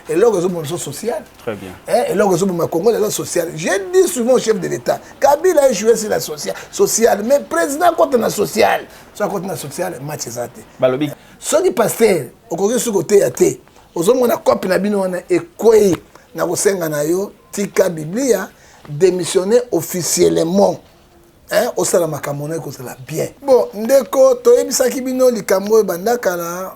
eloko ezoboma biso social eh, eloko ezoboma congo eza social je dis souvent au chef de l'état kabila ejoue si la social social mais président akota na social so akota na social match eza te balobi soki paster okoki soki koteya te ozomona cope na bino wana ekwei na kosenga na yo tika biblia démissionner officiellement hein, osala makambo na ekozala bien bon ndeko toyebisaki bino likambo oyo banda kala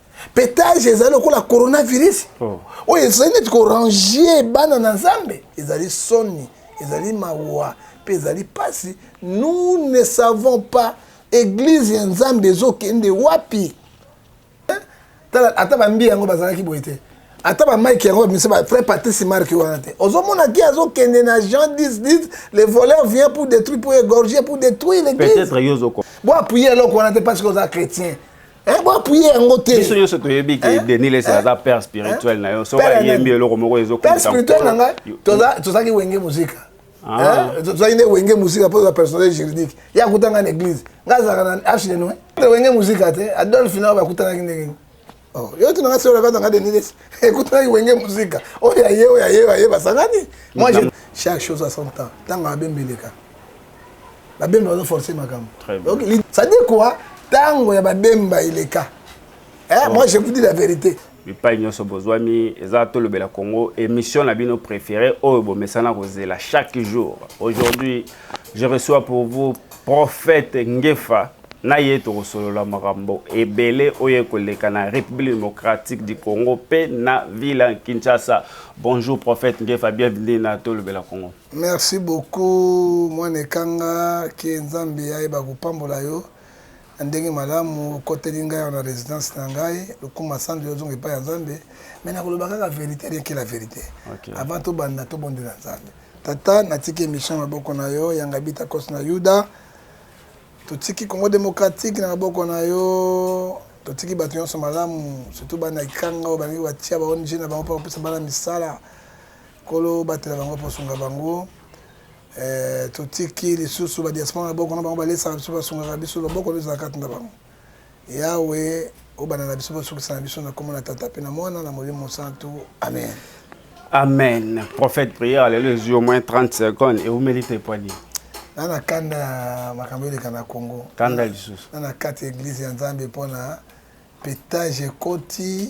petage ezali lokola coronavirus oh. oyo ezali neti korange bana na nzambe ezali soni ezali mawa mpe ezali mpasi nous ne savons pas eglize ya nzambe ezokende wapi tala ata bambi yango bazalaki boye te ata bamike yango bamisa bafrai patrice marke wana te ozomona ki azokende na jean 1010 le voleur vient pour détruire pour égorger pour détruire l'église bo appuye eloko wana te parce que oza chrétien Eh, bo appuyer yango te. Biso nyonso toyebi que eh? Denis Lessi eh? aza père spirituel na yo. Soki ayembi eloko moko ezo Père spirituel na ngai toza tozaki wenge muzika. Ah. Tozaki nde wenge muzika mpo toza personnel juridique. Ye akuta ngai na église. Ngai azalaka na arche de noe. Wenge muzika te. Adolphe nao bakutanaki ndenge nini? Oh, yo tuna ngai soki olakata ngai Denis Lessi. Ekutanaki wenge muzika. Oyo ya ye, oyo ya ye, oyo ya ye basangani. Moi, chaque chose à son temps. Ntango abembeleka. babemba bazo force makambo ça dit quoi tango ya babemba ileka eh, moi je vous dis la vérité bipai nyonso bozwami eza tolobela congo émission na bino préféré oyo bomesana kozela chaque jour aujourd'hui je reçois pour vous prophète ngefa na ye tokosolola makambo ebele oyo ekoleka na république démocratique du congo mpe na ville kinshasa bonjour prophète ngefa bienvenue na tolobela congo Merci beaucoup mwana ekanga que nzambe ayeba kopambola yo na ndenge malamu okoteli ngai awa na residence na ngai lokuma sandre ozonga epai ya nzambe me nakoloba kaka verité rien que la verité okay. avant tobanda tobondela nzambe tata natiki émission maboko na yo yanga bita kos na yuda totiki congo démocratique na maboko na yo totiki bato nyonso malamu surtout bana ikanga oyo balingi batia ba ong na bango mpo bapesa bana misala Nkolo batela bango mpo osunga bango eh, totiki lisusu badiaspora na boko na bango balesaka biso basungaka biso loboko nde ezala kati na bango yawe obanda na biso basukisa na biso na nkombo na tata mpe na mwana na molimo mosantu amen amen prophète prière lelo ezwi au moins 30 secondes eumeli te poani na na kanda ya makambo eleka na congo kanda lisusu na na kati ya eglize ya nzambe mpo na petage ekoti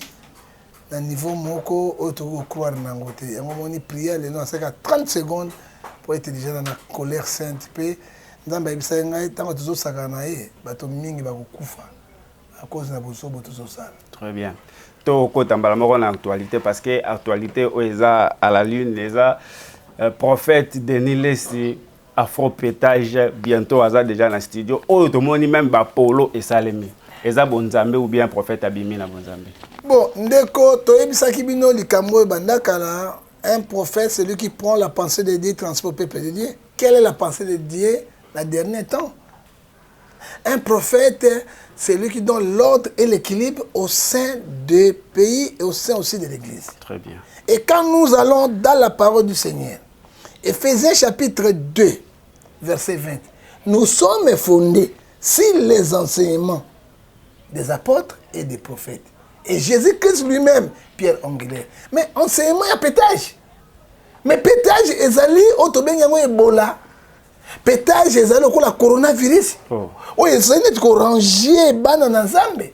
na niveau moko oyo tokoki kocroire na yango te yango omoni prière lelo nasalaka 30 seconde mpo ete deja na na colère sainte mpe nzambe ayebisaki ngai ntango tozosaka na ye bato mingi bakokufa à cause na bozobo tozosala très bien tokota mbala moko na actualité parce que actualité oyo eza à la lune eza euh, prophète denis lesi Afropetage bientot aza dejà na studio oyo tomoni meme ba polo esalemi eza bonzambe ou bien prophète abimi na bonzambe. Bon ndeko toyebisaki bino likambo oyo banda kala un prophète celui qui prend la pensée de Dieu transport peuple de Dieu quelle est la pensée de Dieu na dernier temps un prophète celui qui donne l'ordre et l'équilibre au sein des pays et au sein aussi de l'église. Très bien. Et quand nous allons dans la parole du Seigneur Ephésiens chapitre 2, verset 20. Nous sommes fondés sur les enseignements des apôtres et des prophètes. Et Jésus-Christ lui-même, Pierre angulaire. Mais enseignement ya pétage. Mais pétage ezali oyo tobengi yango ebola. Pétage ezali lokola coronavirus. Oh. Oyo ezali neti korange bana na Nzambe.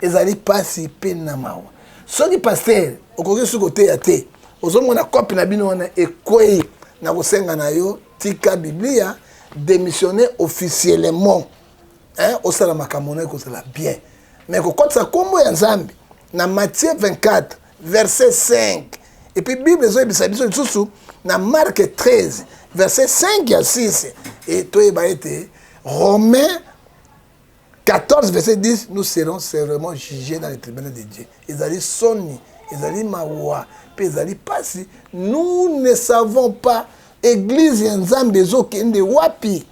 ezali pasi pe na mawa soki pasteur okoki suki oteya te ozomona cope na bino wana ekwei na kosenga na yo tika biblia demissionne officiellement hein, osala makambo na ekozala bien me kokotisa nkombo ya nzambe na matthieu 24 verset 5 epuis bible ezoyebisa biso lisusu na marke 13 verset 5 ya 6 e toyeba ete romain 14 verset 10 nous serons sevrement jugés dans le tribunal de dieu ezali soni ezali mawa mpe ezali mpasi nous ne savons pas église ya nzambe ezokende wapi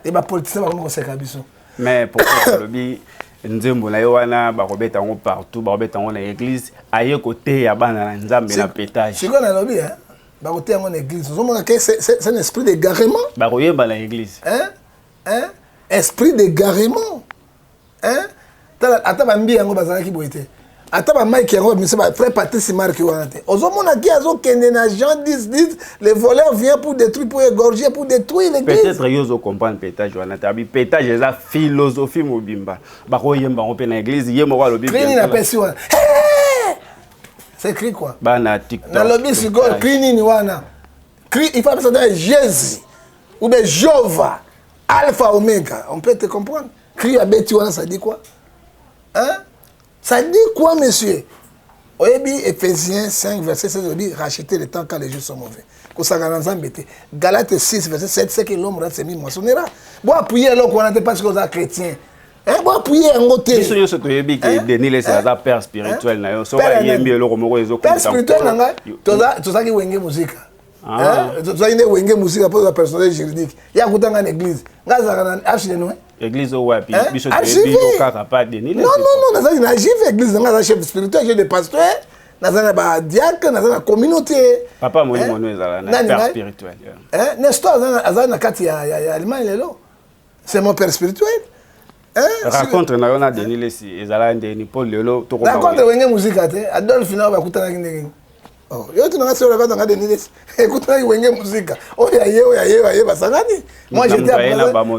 e bapolitisien bakomi koseka biso mais pourquoi olobi nzembo na ye wana bakobeta yango partout bakobeta yango na église aye koteya bana na nzambe na petage sikoyo nalobi eh, bakoteya yango na église ozomona ke c'est un esprit d'égarement bakoyemba na église eh? hein? esprit d'égarement hein? tala ata bambi yango bazalaki boye te ata bamike yango bamisa ba frère patrice mark wana te ozomona ki azokende na jean 10 10 le voleur vient pour détruire pour égorger pour détruire l'église peut-être yo ozocomprendre petage wana te abi petage eza philosophie mobimba bakoyemba yango mpe na église ye moko alobi crini napesi wana c'est cri quoi bana tiktok nalobi sikoyo cri nini wana il faut apesa nde jezi ou bien jova alpha omega on peut te comprendre cri abeti wana ça dit quoi hein ça dit quoi monsieur oyebi ephésiens 5 verset 16 olobi racheter le temps quand les jours sont mauvais kosaka na nzambe te galate 6 verset 7 ce que l'homme rate semi moissonnera bo appuye eloko wana te parce que oza chrétien Eh, bo appuyer yango te biso nyonso toyebi ke eh? denis lese eh? aza père spirituel na yo soki ayembi eloko moko ezopère spirituel na ngai tozalaki wenge mosika ah. tozalaki nde wenge mosika mpo toza personnel juridique ye akuta ngai na église ngai azalaka na arche de noe église oyo wapi biso toyebi yo kaka pa denis lese non non non nazalaki na jive église na ngai aza chef spirituel chef de pasteur naza na badiacre naza na communauté papa molimo no ezala na père spirituel nestor azali na kati ya allemagne lelo c'est mon père spirituel hein? racontre na yo na denis lesi ezalaki ndeni mpo lelo racontre wenge muzika te adolphe nao bakutanaki ndenge oh, yo tunanga solo kaka nga denis lesi ekutanaki wenge muzika oyo aye oyo aye oyo aye basangani moi j'étais à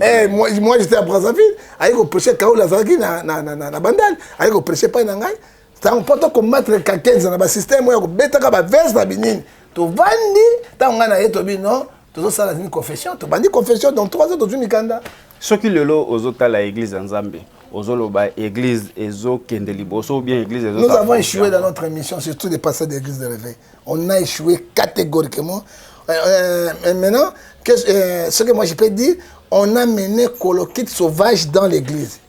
eh, moi, moi j'étais à brazzaville aye koprêche kaola azalaki na, na, na, na, na bandal aye koprêche epai na ngai ntango mpo to combattre kakenza na basysteme oyo akobetaka bavese na binini tovandi ntango ngai na ye tobi no tozosala nini confession tobandi confession donc trois ans tozwi mikanda soki lelo ozotala église ya nzambe ozoloba église ezokende liboso ou bien église ezo nous avons échoué dans notre émission surtout les pasteurs de l'église de réveil on a échoué catégoriquement euh, euh, euh maintenant que, euh, ce que moi je peux dire on a mené colokit sauvage dans l'église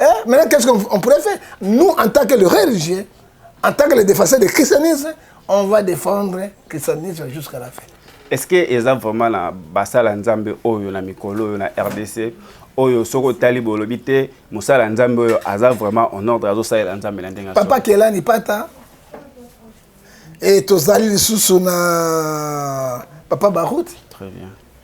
Eh, maintenant, qu'est-ce qu'on pourrait faire Nous, en tant que le religieux, en tant que les défenseurs du christianisme, on va défendre le christianisme jusqu'à la fin. Est-ce que eza vraiment na basala nzambe oyo na mikolo oyo na RDC oyo soko tali bolobi te musala nzambe oyo aza vraiment en ordre azo salela nzambe na ndenge Papa Kelani pata et tozali lisusu na papa Baruti. Très bien.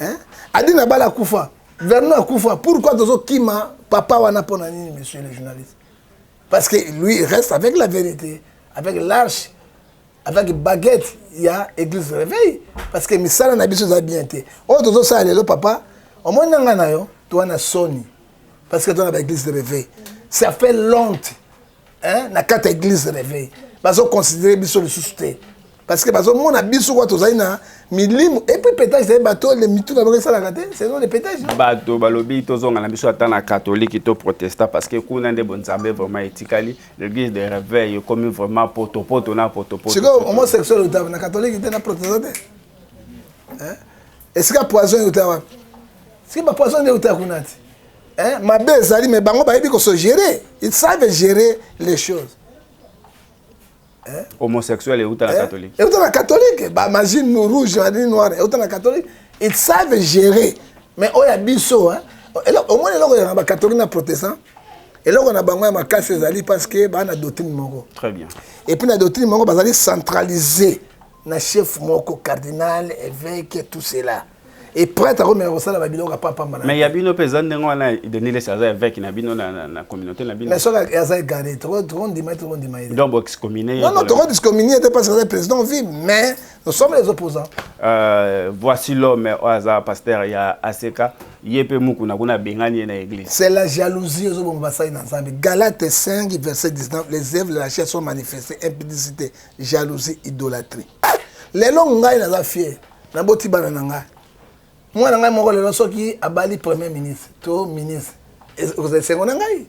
hein adi na bala akufa vernon akufa pourquoi tozo kima papa wana pona nini monsieur le journaliste parce que lui il reste avec la vérité avec l'arche avec baguette ya église réveil parce que misala na biso eza bien te oyo oh, tozosala lelo papa omoni nanga na yo towana soni parce que toza na baeglise de réveil ça fait lente hein na kata église réveil bazo considérer biso lisusu te parce que bazo mona biso kwa tozali na milimu et puis pétage c'est bateau les mitu na bango sala kate c'est non les pétage bateau balobi tozonga na biso ata na catholique to protestant parce que kuna nde bonzambe vraiment etikali l'église de réveil ekomi vraiment poto poto na poto poto c'est comme homosexuel otava na catholique te na protestant te hein esika poison otava siki ba poison nde otava kuna te Hein? Mabe ezali mais bango bayebi ko se gérer. Ils savent gérer les choses. Hein? Homosexuel euta na hein? catholique. Euta na catholique. Ba magie rouge, magie noire, euta na catholique. Ils savent gérer. Mais oya biso hein. Au moins eloko ya ba catholique na protestant. eloko na bango ya makasi ezali parce que baa na doctrine moko très bien et puis na doctrine moko bazali centralisé na chef moko cardinal évêque tout cela et prêtre akomeka kosala ba biloko apa pamba mais ya bino peza ndenge wana Denis Lessi aza évêque na bino na, na, na communauté na bino mais soki aza égaré tokondima ye tokondima ye donc boexcommuné non non tokodiscommuné ye te parce que aza président vie mais nous sommes les opposants euh, voici l'homme oyo aza pasteur ya aseka ye mpe mukuna kuna abengani ye na église c'est la jalousie ozoboma basali na nzambe galate 5 verset 19 les œuvres de la chair sont manifestées impudicité jalousie idolâtrie lelo ngai naza fier naboti bana na ngai mwana ngai moko lelo soki abali premier ministre to ministre ekozala esengo na ngai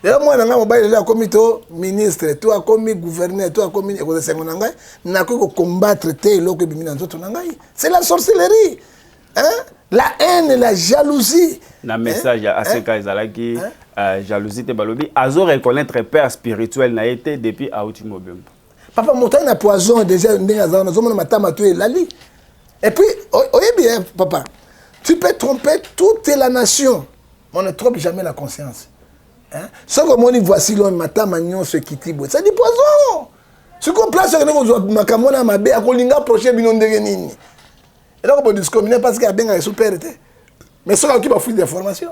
lelo mwana na ngai mobali lelo akomi to ministre to akomi gouverneur to akomi ekozala esengo na ngai nakoki kokombatre te eloko ebimi na nzoto na ngai c'est la sorcellerie hein? la haine la jalousie na message ya aseka hein? ezalaki hein? uh, jalousie te balobi azo reconnaître père spirituel na ye te depuis auti mobembo papa moto aye na poison déjà ndenge aza wana ozomona matama to elali et puis oyebi eh, papa tu peux tromper toute la nation mais on ne trompe jamais la conscience hein? soki omoni voici lone matama nyonso ekiti boye sadi poison sikoyo place okende kozwa makambo wana ya mabe akolinga approche bino ndenge nini eloko bodiscomine parce que abengaka esupere te mais soki akoki bafuite d'information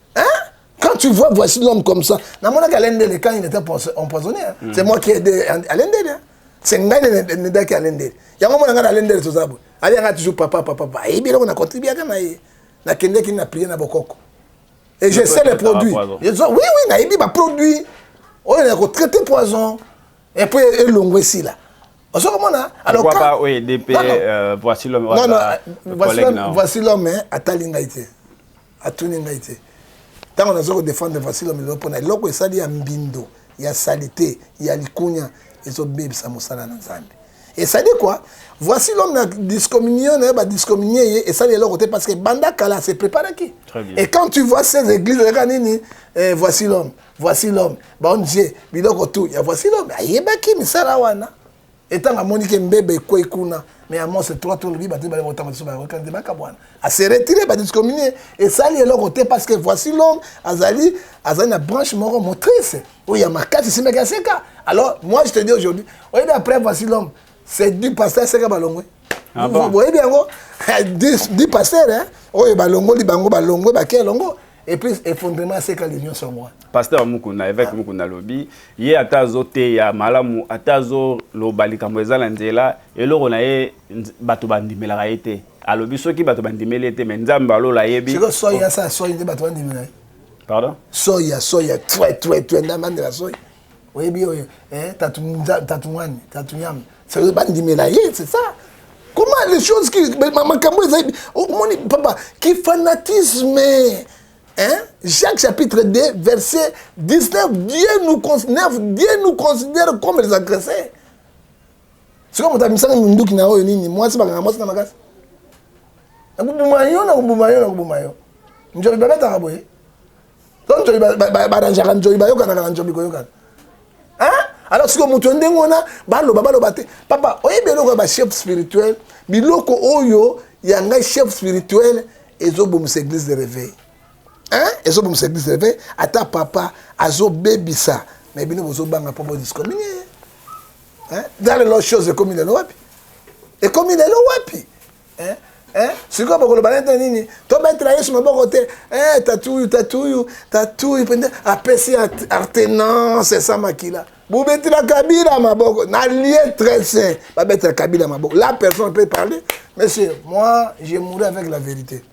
Hein? Quand tu vois voici l'homme comme ça, namonaki Alain Ndele quand il était empoisonné. Hein? Mm. C'est moi qui ai aidé Alain Ndele. Hein? C'est ngai nedaki Alain Ndele. Yango mona ngai na Alain Ndele toza boye. Ali yanga toujours papa papa papa. Ayebi eloko na contribuaka na ye. Nakendeki na prier na bokoko. Et je sais les produits. Oui, oui, nayebi ba produits. Oyo na ko traiter poison. Et puis elongo esila. ozo komona alors pourquoi pas oyo edp euh, voici l'homme non non voici l'homme atali ngai te atuni ngai te ntango naza kodefendre vasilo milolo mpona eloko esali ya mbindo ya salite ya likunya ezobebisa mosala na nzambe esali kua voici l'homme na discommunion na ye badiscommunie ye esali eloko te parce que banda kala se préparaki et quand tu vois ces églises ezalaka nini eh, voici l'homme voici l'homme baong biloko tout ya voici l'homme ayebaki misala wana Etant amoni ke mbeba ekwei kuna mais ya mose 3 to lobi bato bale kotanga biso bayoka nde bakabwana ase retire badiscomine esali eloko te parce que voici l'homme azali azali na branche moko motrice oyo ya makasi esimbaki aseka alors moi je te dis aujourd'hui oyebi après voici l'homme c'est du pasteur aseka balongwe ah boyebi yango du pasteur oyo balongoli bango balongwe bake elongo et puis effondrement ya seka le nyonso yango wana pasteur mukuna évêque ah. mukuna alobi ye ata azoteya malamu ata azoloba likambo eza na nzela eloko na ye bato bandimelaka ye te alobi soki bato bandimeli ye te me nzambe alola ayebi siko soi ya sa soi nde bato bandimela ye pardon soi ya soi ya twe twe twe nde amandela soi oyebi oyo eh, tatungani tatuyam seke bandimela ye c'est ça comment les choses qui makambo eza omoni papa ki fanatisme hein? jacques chapitre 2 verset 19 dieu nous, 9, dieu nous considère comme les agressés sikoyo moto amisaka minduki na oyo nini mwasi bakanga mwasi na makasi nakobuma yo nakobuma yo nakobuma yo njobe babetaka boye to nzobi baranjaka nzobi bayokanaka na nzobi koyokana alors sikoyo moto ya ndenge wana baloba baloba te papa oyebi eloko ya bachef spirituel biloko oyo ya ngai chef spirituel ezobomisa église de réveil ezobomisa église de réveil ata papa azobebisa me bino bozobanga mpo bodiscomine ye dans lelo chose ekomi lelo wapi ekomi lelo wapi eh? Eh? sikoyo bakoloba nete nini tobetela yesu maboko te eh, tatuyu tatuyu tatuyu mpenza apesi artenance esa makila bobetela kabila maboko na lie très sain babetela kabila maboko la personne peut parler monsieur moi je mouri avec la vérité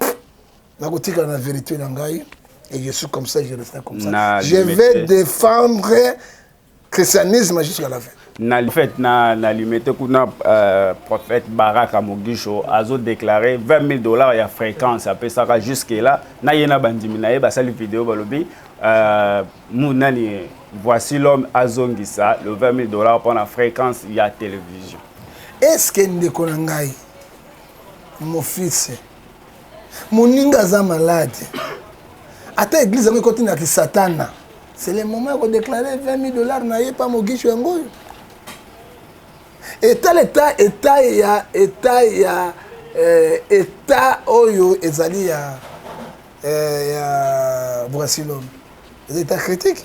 nakotikala na vérité na ngai et je suis comme ça je reste comme ça na je vais défendre christianisme jusqu'à la fin na fait na na limete kuna euh, prophète baraka mogisho azo déclarer 20 000 dollars ya fréquence apesaka jusque là na ye na bandimi na ye basali video balobi euh, mu nani voici l'homme azongisa le 20 000 dollars mpo na fréquence ya télévision est ce que ndeko na ngai mofise moninga aza malade ata eglise yango ekoti na kisatana c'est le moment ya kodeklare 20 000 dollars na ye pa mogisho yango oyo etala eta eta ya eta ya eh, eta oyo ezali ya eh, ya brasilome eza eta critique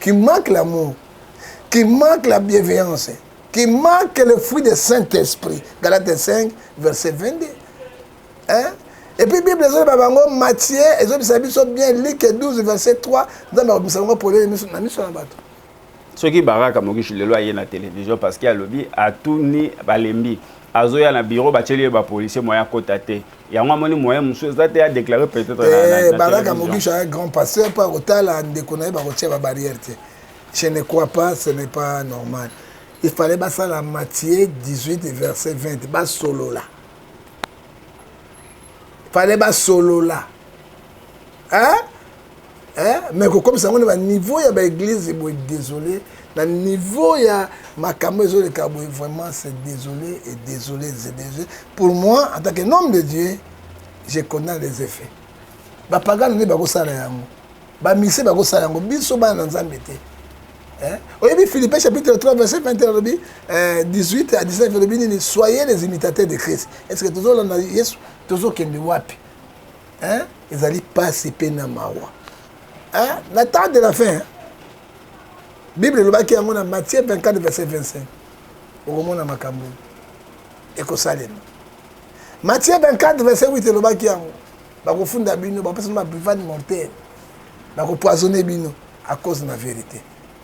qui manque l'amour, qui manque la bienveillance, qui manque le fruit du Saint-Esprit. Galates 5, verset 22. Hein? Et puis Bible ezali ba bango Matthieu ezobisa biso bien Luc 12 verset 3 nzambe akobimisa bango polele miso na miso na bato soki baraka mokishi lelo aye na télévision parce que alobi atuni balembi azoya na biro batieli ye bapolisier moya akota te yango amoni moyen mosusu eza te ya déclare peut-être balaka mogisha ya grand pasteur mpo akotala ndeko na ye bakotia babarrière te je ne crois pas ce n'est pas normal il fallait basala matie 18 verset 20 basolola fallait basolola hein eh, mais kokomisa yango na baniveau ya baeglise boye désolé na niveau ya makambo ezoleka boye vraiment c'est désolé et désolé désolé pour moi en tant que nom de dieu je connais les effets bapagano nde bakosala yango bamise bakosala yango biso bana na nzambe te eh, oyebi philippe chapitre 3 verset 20 alobi 18 à 19 alobi nini soyez les imitateurs de christ est ce que tozolanda yesu tozokende wapi hein ezali pasi pe na mawa hein na temps de la fin bible elobaki yango na matthieu 24 verset 25 okomona makambo ekosalema matthieu 24 verset 8 elobaki yango bakofunda bino bapesa bino baprivane mortele bakopoisonne bino à cause na verité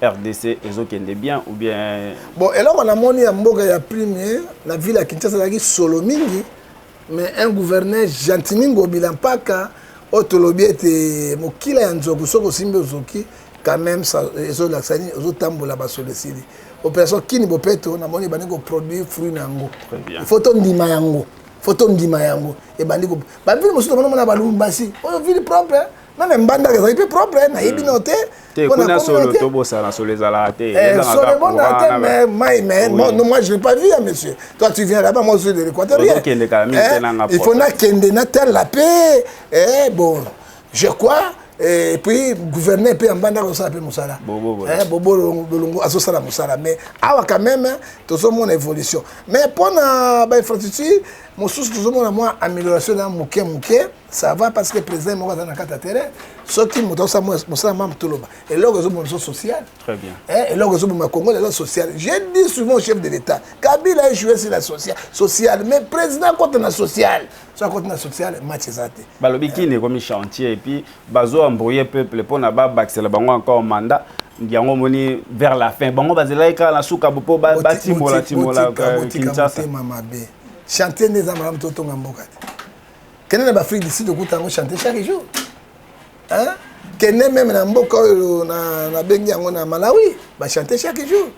rdc ezo kende bien ou bien bon eloko na moni ya mboka ya premier na ville ya Kinshasa ezalaki solo mingi mais un gouverneur gentimi ngobila mpaka oyo tolobi ete mokila ya nzoku soki osimbi ozoki quand même ezolakisa nini ozotambola basolo esili opération kini bopeto namoni ebandi koproduire fruit na yango ifo tondima yango fo tondima yango ebandi bavile mosusu tomonamona balumbashi oyo ville propre meme mbandaka ezali mpe propre nayebi mm. no te Te, Pona kuna solo communauté- tobosana solo ezalaka te. Eh, Ezalaka solo kaka ebonaka courant te, na ba- mais mai, mais Oui. moi, non, moi, je l'ai pas vu, hein, monsieur. Toi, tu viens là-bas, moi, je suis de l'Équateur. Ozo kende kala mingi te na nga Il faut propre. nakende na telle la paix. Eh, bon, je crois. eh, Et puis, gouverner peut en banda kosala pe musala. Bobo, bobo. Eh, bobo Longo- Longo azosala musala. Mais awa quand même, tozomona évolution. Mais pona ba infrastructure, mosusu tozomona mwa amélioration na moke moke. ça va parce que président moko aza na kati ya terrain soki moto aosa mosala mamu toloba eloko ezoboma biso social eh, eloko ezoboma congo lelo social je dis souvent chef de l'état kabila ejoue si la social social mais président akota na social so akoti na social match eza te balobi kini ekomi chantier epuis bazo embrouille peuple mpona babakisela bango encore mandat yango omoni vers la fin bango bazelaki kaka na suka mpo batimola timola kinshasa chantier nde eza malamu totonga mboka te kende na baafrique du sud okuta yango chante chaque jour hein? kende meme na mboka oyo nabengi yango na malawi bachante chaque jour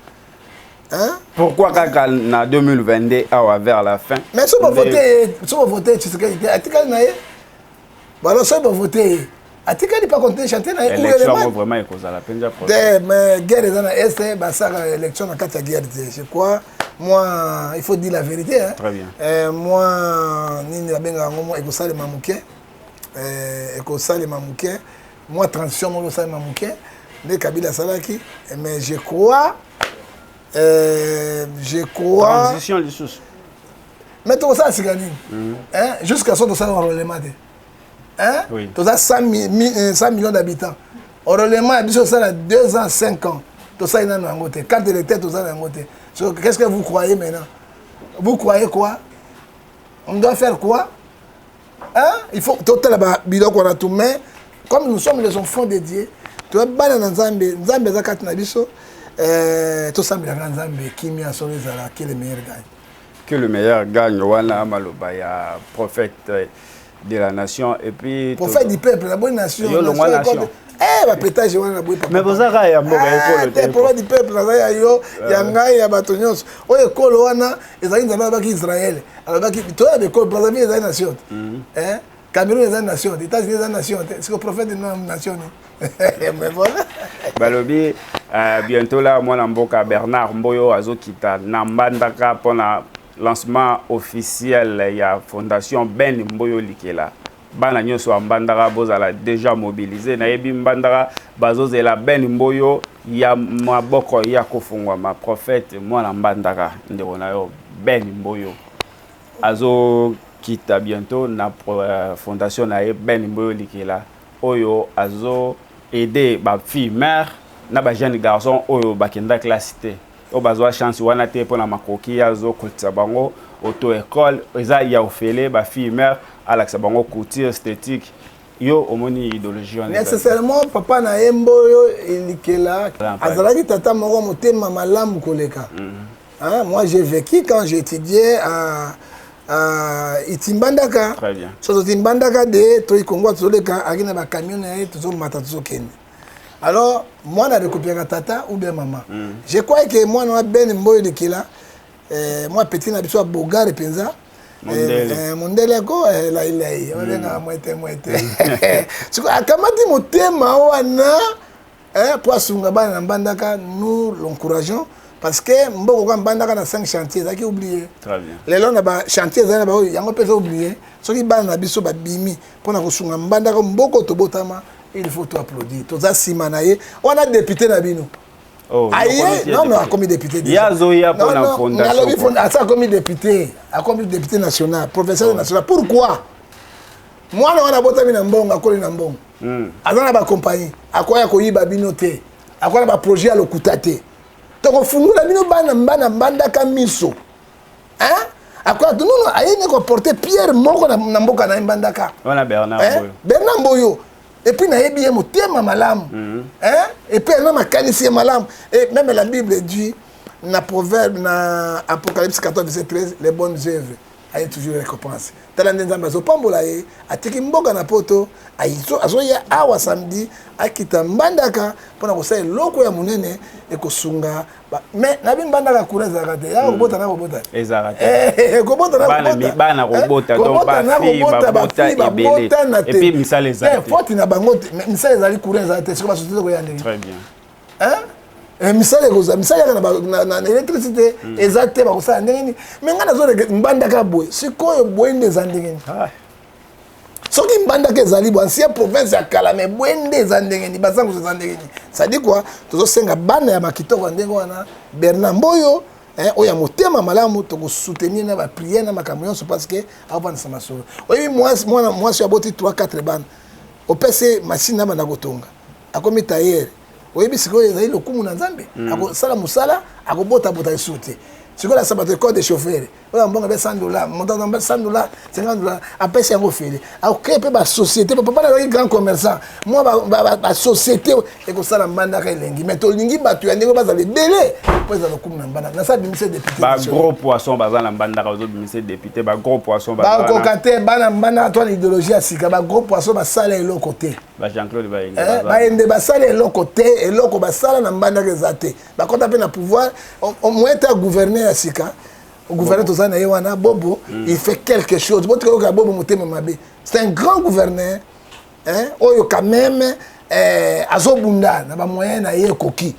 hein? pourquoi kaka na 2022 awa vers la fin mais so bavote so bavote tshisekedi te atikali na ye balo soki bavote ye atikali pa continue chantier na ye élection yango vraiment ekozala mpenza te mais guerre eza na est eh, basaka élection na kati ya guerre te je crois moi il faut dire la vérité hein. Très bien. Euh, moi nini babenga yango moi ekosalema moke euh, ekosalema moke moi transition moko ekosalema moke nde kabila asalaki mais je crois euh, je crois transition lisusu mais tokosala sika nini mhm. jusqu'à so tosala enrolema te hein oui. toza 100, 100 euh, millions d'habitants orolema ya biso osala 2 ans 5 ans tosali nano yango te carte électeur toza na yango te so qu'est ce que vous croyez maintenant vous croyez quoi on doit faire quoi hein il faut totala babiloko wana tout mais comme nous sommes les enfants de dieu toya bana na nzambe nzambe aza kati na biso euh, tosambelaka nzambe kimia solo ezala kele meilleur gagne Que le meilleur gagne wana maloba ya prophète de la nation et puis prophète du peuple la bonne nation yo longwa nation eh ba pétage wana na boye papa mais boza ka ya mboka ekolo eh, te prophète du peuple naza ya yo eh. ya ngai ya bato nyonso oyo ekolo wana ezali nzambe alobaki Israël alobaki toya bekolo Brazzaville ezali nation te mhm. eh Cameroun eza nation te, États-Unis eza nation te. Siko prophète de nom nation ni. Mais voilà. Balobi euh, bientôt là mwana mboka Bernard Mboyo azokita na Mbandaka pona lancement officiel ya fondation Ben Mboyo Likela. Bana nyonso ya Mbandaka bozala déjà mobilisé. Nayebi Mbandaka bazozela Ben Mboyo ya maboko ya kofungwama prophète mwana Mbandaka ndeko na yo Ben Mboyo. Azo kita bientot na fondation na ye Ben Mboyo Likela oyo azo aide ba filles mères na ba jeunes garçons oyo ba kenda classe te oyo bazua chance wana te pona makoki ye azo kotisa bango auto ecole eza ya ofele ba filles mères alakisa bango couture esthetique yo omoni idéologie wana nécessairement papa na ye Mboyo Likela azalaki tata moko motema malamu koleka mm -hmm. Hein, moi j'ai vécu quand j'ai étudié à euh, itimbandaka so totimbandaka de toyi kongo tozoleka aki na bacamion na ye tozomata tozokende alors mwana adekopiaka tata ou bien mama mm. je crois ke mwana wana bene mboyo likila eh, mwa petit na biso ya bogare mpenza mondele yako eh, eh, eh, lailai mm. babengaka mwete mwete siko akamati motema wana eh, mpo asunga bana na mbandaka nous l'encourageons parce que mboko kwa mbandaka na 5 chantier ezalaki oublie lelo na bachantier ezali na baoyo yango mpe eza oublie soki bana na biso babimi mpo na kosunga mbandaka mboko tobotama il faut to applaudir toza nsima na ye wana depute na bino Oh, aye non non akomi député nalobi asa akomi député akomi député national professeur national pourquoi mwana wana abotami na mbongo akoli na mbongo mm. aza na bakompagnie akoya koyiba bino te akoya na baprojet ya lokuta te tokofungola bino bana bana mbandaka miso hein? akoya nono aye ne koporte pierre moko na, na mboka na ye mbandaka wana bernard eh? boyo bernard boyo epuis nayebi ye motema malamu mm -hmm. eh? epuis ana makanisi ye malamu e meme la bible dit na proverbe na apocalypse 14 verset 13 les bonnes œuvres aye toujours récompense tala nde nzambe azopambola ye atiki mboka na poto azoya awa samedi akita mbandaka mpona kosala eloko ya monene ekosunga mais nabi mbandaka kura ezalaka te yaka kobota na kobota kobota na kobota bafii babotana te foti na bango te misala ezali kura ezala te soki basosite koya ndenge hein eh, misala ekozala misala yaka na électricité hmm. eza te bakosala ndenge nini me ngai nazoleke mbandaka boye sikoyo boye nde eza ndenge nini ah. soki mbandaka ezali bo ancien province ya kala me boye nde eza ndenge nini bazangusu eza ndenge nini sadi kua tozosenga bana ya makitoko ya ndenge wana bernard mboyo eh, oyo ya motema malamu tokosoutenir na bapriere na makambo nyonso parce que akovandisa masolo oyebi mwana mwasi aboti 3 4 bana opesi machine na banda kotonga akomi tayere oyebi sikoyo ezali lokumu na nzambe mm. akosala mosala akobotabota lisusu te sikoyo na sabato ecole de chauffeur oyo ya mbongo ebe 100 dollar montant na 100 dollar 50 dollar apesi yango ofele akokree mpe basociété papa na azalaki grand commerçant mwa basociété ekosala mbandaka elengi mais tolingi bato ya ndenge bazala ebele mpo ezala lokumu na mbandaka nasa bimisa député bagros poisson baza na mbandaka ozobimisa député bagros poisson bakoka te bana mbandaka to na idéologie ya sika bagros poisson basala eloko te ba Jean Claude Bayende eh, Bayende basala eloko te eloko basala na mbandaka eza te bakota mpe na pouvoir omwete ya gouverneur ya sika gouverneur toza na ye wana bobo mm. il fait quelque chose botika yoka bobo motema mabe c'est un grand gouverneur hein, oyo quand même eh, azobunda na bamoyen na ye ekoki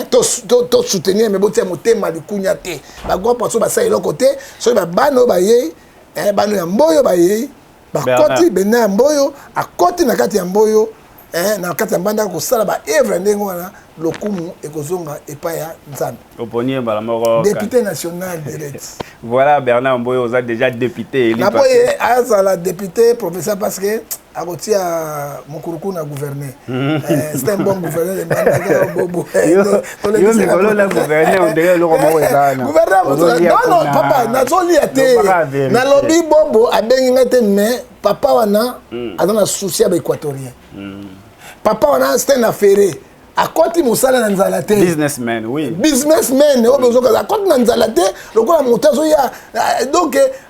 tosoutenir me botia motema likunya te bagwa poso basala eloko te soki babana oyo bayei eh, bano ya mboyo bayei bakoti benda ya mboyo akoti na kati ya mboyo eh, na kati ya mbanda kosala baevre ndenge wana lokumu ekozonga epai ya nzambe oponi ye mbala moko depute national direct voilà bernard mboyo oza déjà depute eli na boye azala depute professeur parce que akotia mokuruku na gouverne mhm. eh, c'est un bon gouverneur de mbanda bobo yo mikolo na gouverne ondenge eloko moko ezananono papa nazolia te nalobi bobo abengi ngai te mais papa wana hmm. aza na souci ya baéquatorien hmm. papa wana sten afere akoti mosala na nzala te businessman oui. businessman oyo bozokaza akoti na nzala te lokola moto azoya euh, donc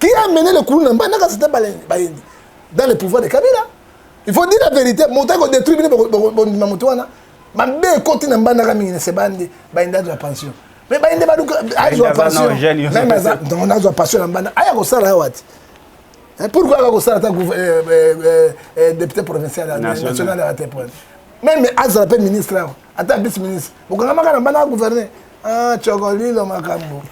qui a mené le kuluna mbanda kasi te bayendi dans le pouvoir de kabila il faut dire la vérité moto ayeko détruit bino bondima moto wana mabe ekoti na mbandaka mingi na sebani nde bayenda azwa pension mais bayende baluka azwa pension meme aza azwa pension na mbanda aya kosala awa te eh, pourquoi aka kosala ata eh, eh, député provincial national ya te meme azala mpe ministre awa ata vice ministre bokangamaka na mbanda ya gouverner Ah, Chocolilo Makambo.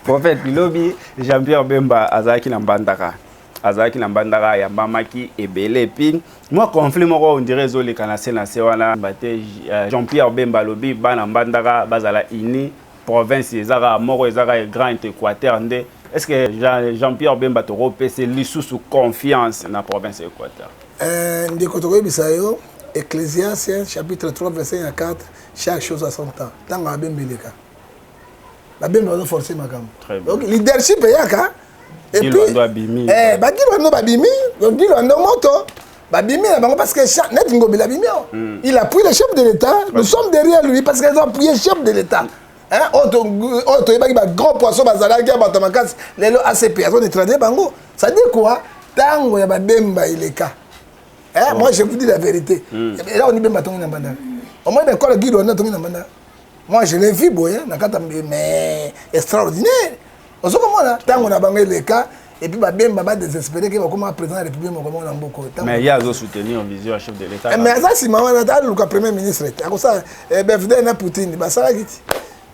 Prophète Bilobi, Jean-Pierre Bemba, Azaki Nambandaka. Azaki Nambandaka, Yambamaki, Ebele. Puis, moi, conflit, moi, on dirait, Zoli Kanase, Nasewana, Bate, euh, Jean-Pierre Bemba, Lobi, Bana Mbandaka, Bazala Ini, province, Ezara, Moro, Ezara, Grand Équateur, Nde. Est-ce que Jean-Pierre Bemba, Toro, PC, Lissousou, confiance, na province Équateur? Eh, ndeko tokoyebisa yo ecclésiasien chapitre 3 verset ya 4 chaque chose à son temps ntango mabe mbeleka babembe bazoforce makambo donc leadership eyaka eh, bagilwando babimi gilwando moto babimi na bango parce que neti ngobila abimi awa hmm. il appuie le chef de l'état nous sommes derrière lui parce qu'ils ont appuyé chef de l'état Hein, oyo toyebaki ba grand poisson bazalaki ya bato ya makasi lelo acp azo neutralise bango ça dit quoi ntango ya babemba eleka hein, oh. moi je vous dis la vérité hmm. ela oni bemba tongi na mbandaka omoi na ekolo guide wana tongi na mbandaka moi je l'ai vu boye na kati mais extraordinaire ozo komona ntango na bango eleka epuis babemba badesespere ke bakoma président ya république moko moko na mboka oyo mais ye azosoutenir vision ya chef de l'état eh, mais aza nsima wana aluka premier ministre te akosala eh, bfd na poutine basalaki ti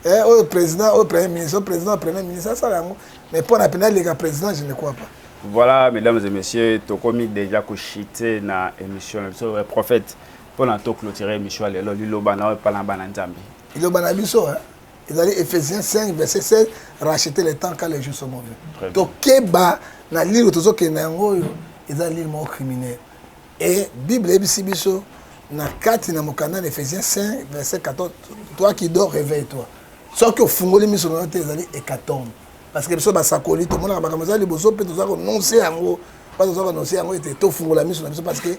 eh, oyo président oyo premier ministre oyo président premier ministre asala yango mais mpo na pena aleka président je ne crois pas voilà mesdames et messieurs tokomi déjà kochite na émission na biso prophète mpo na toclotire émission ya lelo liloba na oyo epa na bana nzambe liloba na biso ezali ephésiens 5 verset 16 racheter le temps car les jours sont mauvais Très bien. tokeba na lile oyo tozokende na yango oyo eza lile moko criminel e bible eyebisi biso na kati na mokanda na ephésiens 5 verset 14 toi qui dors réveille toi soki ofungoli miso na yo te ezali hécatombe parce que biso basakoli tomonaka makambo eza liboso mpe toza kononse yango mpa toza kononse yango ete tofungola miso na biso parce que